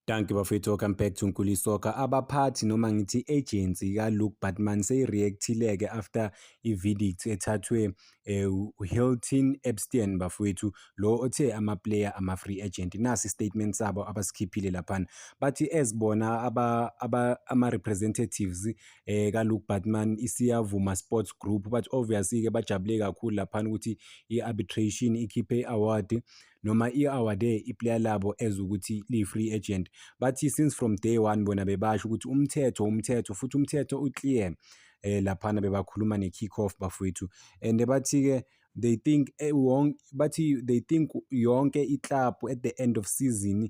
Dankie bafethu welcome back to Nkuli Soccer. Abaphathi noma ngithi agency ka Luke Batman seyireactile ke after iverdict ethathwe eh, Hilton Epstein bafethu lo othe ama player ama free agent. Nasi statement sabo abasikhiphile lapha. Bathi ezibona aba, aba ama representatives eh, ka Luke Batman isiyavuma sports group but obviously ke bajabule kakhulu lapha ukuthi i arbitration ikhiphe award noma i-awardee iplayer labo as ukuthi liyi-free agent bathi since from day one bona bebasho ukuthi umthetho umthetho futhi umthetho uclear eh laphana bebakhuluma ne-kick off bafowethu and bathi-ke they think eh, bathi they think yonke iklabhu at the end of season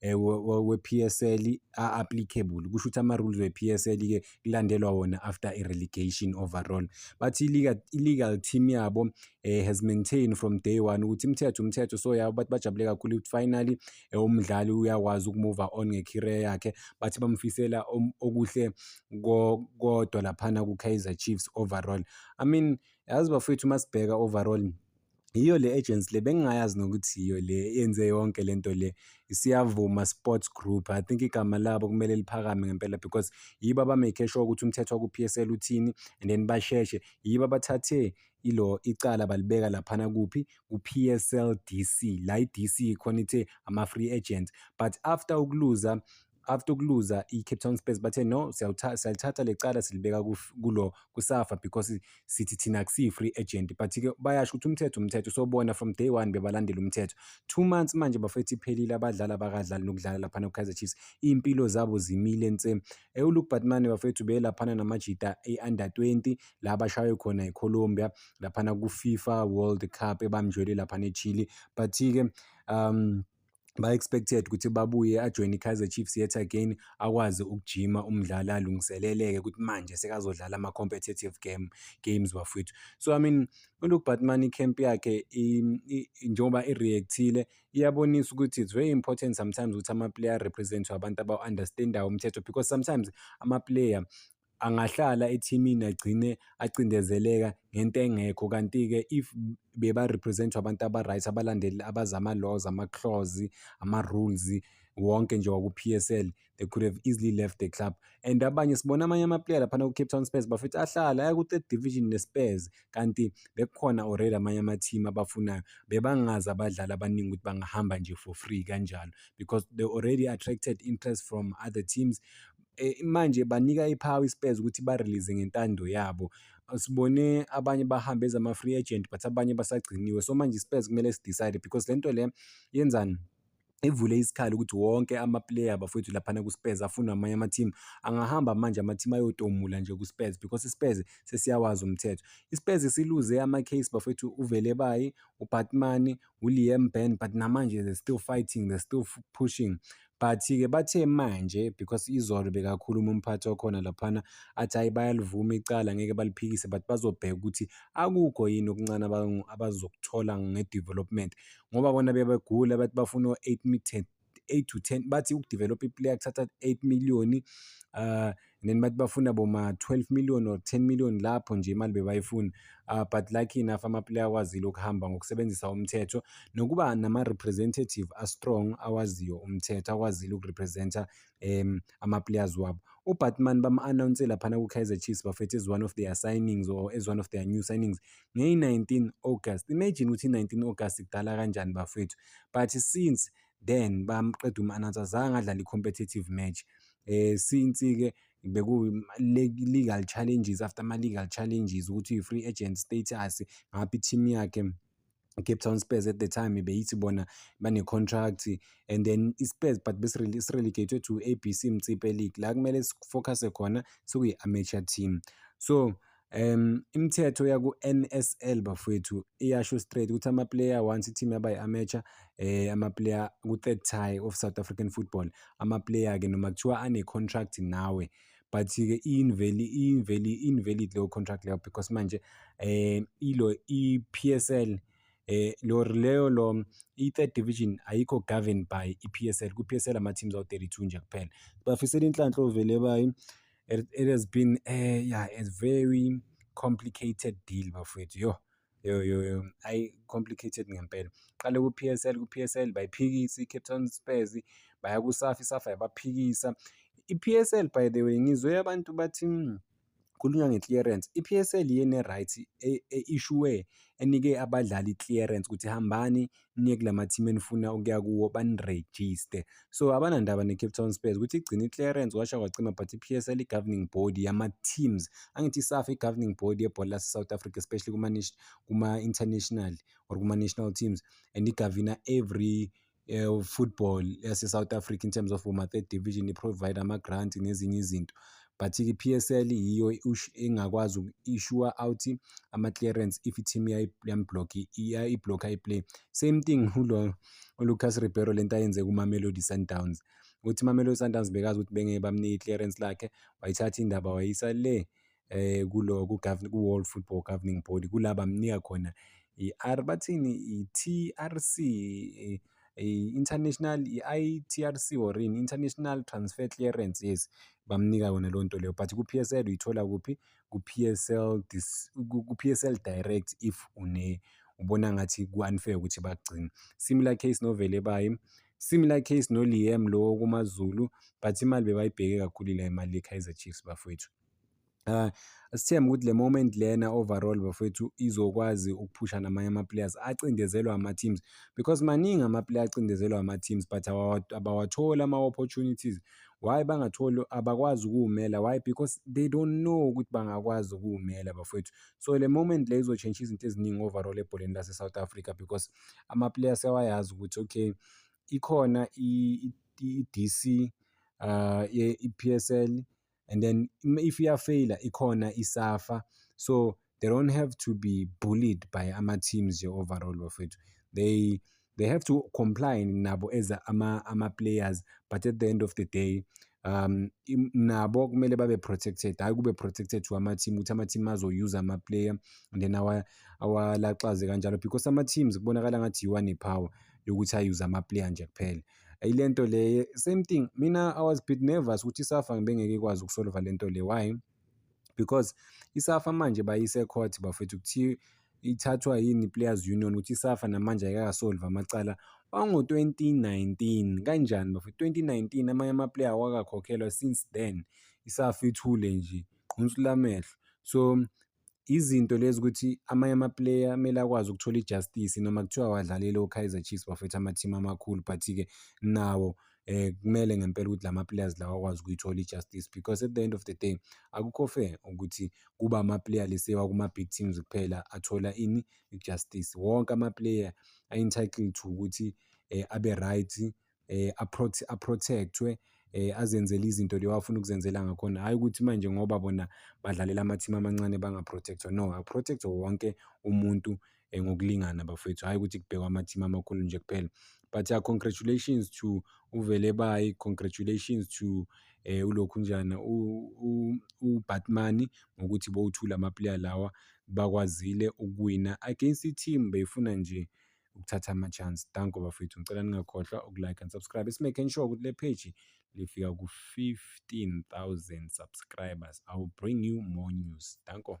eh, we-PSL a-applicable kusho ukuthi ama-rules we-PSL-ke kulandelwa wona after i-relegation overall bathi i-legal team yabo um has maintained from day one ukuthi imithetho umthetho so yabo bathi bajabule kakhulu ukuthi finally eh, umdlali uyakwazi ukumova on nge-career yakhe bathi bamfisela um, okuhle kodwa laphana ku-kaizer chiefs overall i mean yazi bafowethu uma sibheka overall Yiyo le agency le bengingayazi nokuthi yiyo le yenze yonke le nto le isiyavuma sports group i think igama labo kumele liphakame ngempela because yibo abamake sure ukuthi umthetho waku-PSL uthini and then basheshe yibo abathathe ilo icala balibeka laphana kuphi ku-PSL DC la i-DC khona ithe ama-free agent but after ukuluza after ukuluza i-Cape Town Spurs bathe no siyalithatha lecala silibeka kulo kusafa because sithi thina akusiyi-free agent but-ke bayasho ukuthi umthetho umthetho sobona from day one bebalandela umthetho two months manje bafethu iphelile abadlali abakadlali nokudlala laphana ku-kaizer chiefs iy'mpilo zabo zimile nse ewuluke batmane bafethu beyelaphana namajita e-under 20 la abashaywe khona ecolombia laphana ku-fifa world cup ebamjwele laphana echile but-ke um ba-expected ukuthi babuye ajoyine i-Kaizer Chiefs yet again akwazi ukujima umdlali alungiseleleke ukuthi manje sekazodlala ama-competitive game games bafowethu so i mean uLuke Batman i-camp yakhe njengoba i-reactile iyabonisa ukuthi it's very important sometimes ukuthi ama-player representwe abantu abawu-understandayo umthetho because sometimes ama-player angahlala ethimini agcine acindezeleka ngento engekho kanti-ke if beba-represent-wa abantu aba-right abalandeli abazi ama-laws ama-clause ama-rules wonke nje waku-PSL they could have easily left the club and abanye sibona amanye amaplayer laphana ku-Cape Town Spurs bafethu ahlala aya ku-third division ne-Spurs kanti bekukhona already amanye ama-team abafunayo bebangazi abadlali abaningi ukuthi bangahamba nje for free kanjalo because they already attracted interest from other teams Eh, manje banika iphawu iSpurs ukuthi ba-release ngentando yabo. Sibone abanye bahambe as ama-free agent but abanye basagciniwe. So manje iSpurs kumele si-decide because le nto le yenzani? Ivule isikhala ukuthi wonke ama-player bafowethu laphana ku-Spurs afunwa amanye ama-team. Angahamba manje ama-team ayotomula nje ku-Spurs because i-Spurs sesiyawazi umthetho. I-Spurs isiluze ama-case bafowethu uVelebayi, uBatman, uLiam Ben but namanje they still fighting they still pushing but-ke bathe manje because izolo bekakhuluma umphathi wakhona laphana athi hhayi bayalivuma icala ngeke baliphikise but bazobheka ukuthi akukho yini okuncane abazokuthola nge-development ngoba bona bebegula bathi bafuna o-eight meter 8 to 10 bathi ukudevelop iplayer kuthatha 8 million uh then bathi bafuna boma 12 million or 10 million lapho nje imali bebayifuna uh, but lucky enough amaplayer akwazile ukuhamba ngokusebenzisa umthetho nokuba nama-representative astrong awaziyo umthetho akwazile ukurepresenta um ama-players wabo ubatman bam-anawunse laphana ku-kaizer chiefs bafethu as one of their signings or as one of their new signings ngeyi-19 August imagine ukuthi i-19 August kudala kanjani bafethu but since then bamqeda uma-announce azange adlale i-competitive match eh since-ke beku-legal challenges after ama-legal challenges ukuthi i-free agent status ngaphi i-team yakhe Cape Town Spurs at the time beyithi bona bane-contract and then i-Spurs but besirelegated to ABC Mtsipe League la kumele sifocuse khona sekuyi-amateur team so Um, imithetho yaku-NSL bafowethu iyasho straight ukuthi ama-player once i-team yaba i-amateur eh ama-player ku-third tie of South African football ama-player-ke noma kuthiwa ane-contract nawe but-ke iyinveli iyinveli invalid leyo contract leyo because manje eh ilo i-PSL eh lo leyo lo i-third division ayikho governed by i-PSL ku-PSL ama-teams awu-32 nje kuphela bafisela inhlanhla ovele bayi it, it has been a yeah a very complicated deal bafowethu yo yo yo yo ayi complicated ngempela qale ku PSL ku PSL bayiphikisa iCape Town Spurs baya ku SAFA iSAFA yabaphikisa iPSL by the way ngizwe abantu bathi hmm, khulunywa nge-clearance i-PSL yene-right e-, e-issuwe enike abadlali i-clearance ukuthi hambani niye kula mathimu enifuna ukuya kuwo banirejiste so abanandaba ne-cape town spurs ukuthi igcina i-clearance washa kwacima but i-psl i-governing body yama-teams angithi isafa i-governing body yebhola lase-south africa especially kuma-international or kuma-national teams and igavina every uh, football yase-south africa in terms of uma-third division i-provide ama-grant nezinye izinto but i-PSL yiyo engakwazi i-sure out ama-clearance if i-team yamblock i-blocker i-play same thing ulo uLucas Ribeiro lento ayenze kuMamelodi Sundowns ukuthi iMamelodi Sundowns bekazi ukuthi bengeke bamnike i-clearance lakhe wayithatha indaba wayisa le eh kulo ku-World Football Governing Body kulaba mnika khona i-R bathini i-TRC i-international i-ITRC or yini international transfer clearance yes bamnika yona leyo nto leyo but ku-PSL uyithola kuphi ku-PSL dis ku-PSL direct if une ubona ngathi ku-unfair ukuthi bakugcine similar case novele bayi similar case noLiam lowo kumaZulu but imali bebayibheke kakhulu la imali yeKaizer Chiefs bafowethu Uh, sithembe ukuthi le moment lena overall bafowethu izokwazi ukuphusha namanye ama-players acindezelwa ama-teams because maningi ama-player acindezelwa ama-teams but abawatholi ama-opportunities why bangatholi abakwazi ukuwumela why because they don't know ukuthi bangakwazi ukuwumela bafowethu so le moment le izotshentsha izinto eziningi overall ebholeni lase-south africa because ama-player sewayazi ukuthi okay ikhona i-dc uh, ye-epsl and then if iyafeyila ikhona isafa so they don't have to be bullied by ama-teams nje overall bafethu they they have to comply nabo as ama-players but at the end of the day um nabo kumele babe protected hayi kube protected to ama-team ukuthi ama-team azoyuza ama-player and then awalaxaze kanjalo because ama-teams kubonakala ngathi yiwa nepower yokuthi ayuze ama-player nje kuphela yile nto le same thing mina i was bit nervous ukuthi isafa ngibengeke ikwazi ukusolva le nto le why because isafa manje bayise court bafethu kuthiwa ithathwa yini players union ukuthi isafa namanje ayikakasolva amacala wango-2019 kanjani bafethu 2019 amanye amaplayer awakakhokhelwa since then isafa ithule nje qhunsu lamehlo so izinto lezi ukuthi amanye amaplayer kumele akwazi ukuthola ijustice noma kuthiwa awadlalile oKaizer Chiefs bafethu amathimu amakhulu but-ke nawo eh kumele ngempela ukuthi lama players lawa akwazi ukuyithola ijustice because at the end of the day akukho fair ukuthi kuba ama player lesewa kuma big teams kuphela athola ini ijustice wonke ama player are entitled to ukuthi eh, abe right eh, aprotectwe eh, azenzele izinto leyo afuna ukuzenzela ngakhona hhayi ukuthi manje ngoba bona badlalela amathimu amancane bangaprotectwa no aprotectwe wonke umuntu eh, ngokulingana bafowethu hhayi ukuthi kubhekwa amathimu amakhulu nje kuphela but uh, congratulations to uvele bayi congratulations to eh ulokhu njana uBatman ngokuthi bowuthula amaplayer lawa bakwazile ukuwina against i-team beyifuna nje ukuthatha ama-chance. Danko bafethu, ngicela ningakhohlwa uku-like and subscribe. Esimaking sure ukuthi le page lifika ku-15,000 subscribers. I will bring you more news. Danko.